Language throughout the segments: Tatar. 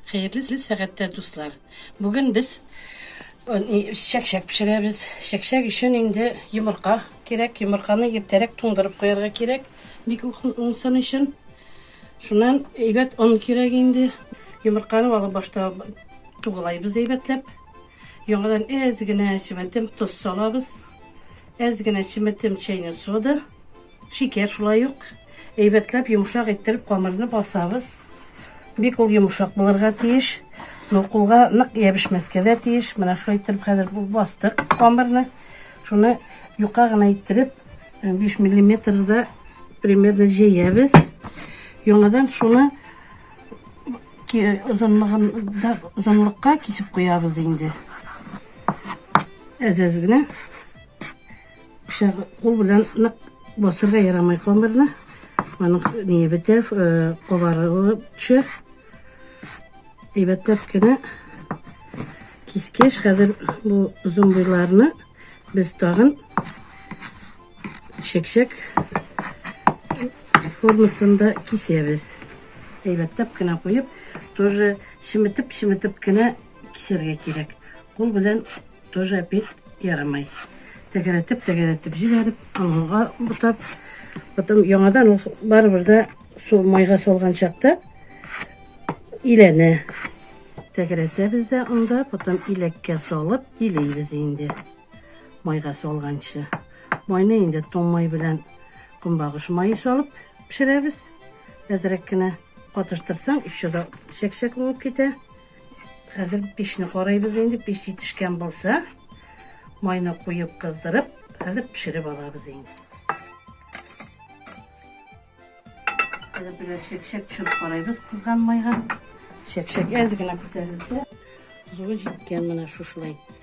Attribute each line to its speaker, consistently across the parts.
Speaker 1: Хәерле сәгатьтә, дуслар! Бүген без чәкчәк пешерәбез. Чәкчәк өчен инде йомырка кирәк. Йомырканы иртәрәк туңдырып куярга кирәк. Бик уңсын өчен. Шуннан әйбәт он кирәк инде. Йомырканы алып башта тугылайбыз әйбәтләп. Яңадан әз генә чеметем тоз салабыз. Әз генә чеметем чәйнек сода. Шикәр шулай ук әйбәтләп йомшак иттереп камырны басабыз. Бик ул йомшак булырга тиеш. Ну, кулга нык ябешмәскә дә тиеш. Менә шулай иттереп хәзер бастык камырны. Шуны юка гына иттереп 5 миллиметрда примерно җәябез. Яңадан шуны озынлыгында озынлыкка кисеп куябыз инде. Әзәз генә. Пычагы кул белән нык басырга ярамый камырны. Аның не бетә, э, кабарыгы төшә. Әйбәтләп кенә кискеш. Хәзер бу озын буйларны без тагын чәкчәк формасында кисәбез. Әйбәтләп кенә куеп, тоже чеметеп-чеметеп кенә кисәргә кирәк. Кул белән Тоже опять ярамай. Тәгәрәтеп, тәгәрәтеп җибәреп, аңга бутап, потом яңадан ул барыбер дә су майга салган чакта иләнә. Тәгәрәтәбез дә анда, потом иләккә салып илейбез инде. Майга салганчы. Майны инде тон май белән көнбагыш майы салып пешерәбез. Әзрәк кенә катыштырсаң, еще да чәк-чәк булып китә. Хәзер пешне карыйбыз инде, пеш җитешкән булса, майны куеп кыздырып, хәзер пешереп алабыз инде. Хәзер берәр чәкчәк төшереп карыйбыз кызган майга. Чәкчәк әз генә күтәрелсә, зуры җиткән менә шушылай.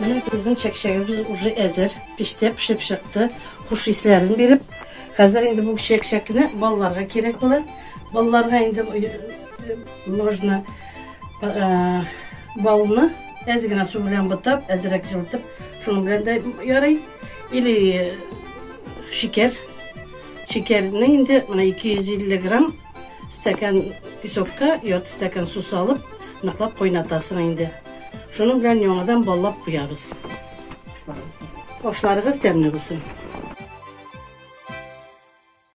Speaker 1: Менә безнең чәкчәгебез уже әзер, печтә пешеп чыкты, хуш исләрен биреп. Хәзер инде бу чәкчәкне балаларга кирәк була. Балаларга инде можно балны әз генә су белән бутап, әзрәк җылытып, шуның белән дә ярый. Или шикәр. Шикәрне инде менә 250 грамм Стакан песокка ярты стакан су салып, ныклап кайнатасың инде. Шуның белән яңадан баллап куябыз. Ашларыгыз тәмле булсын!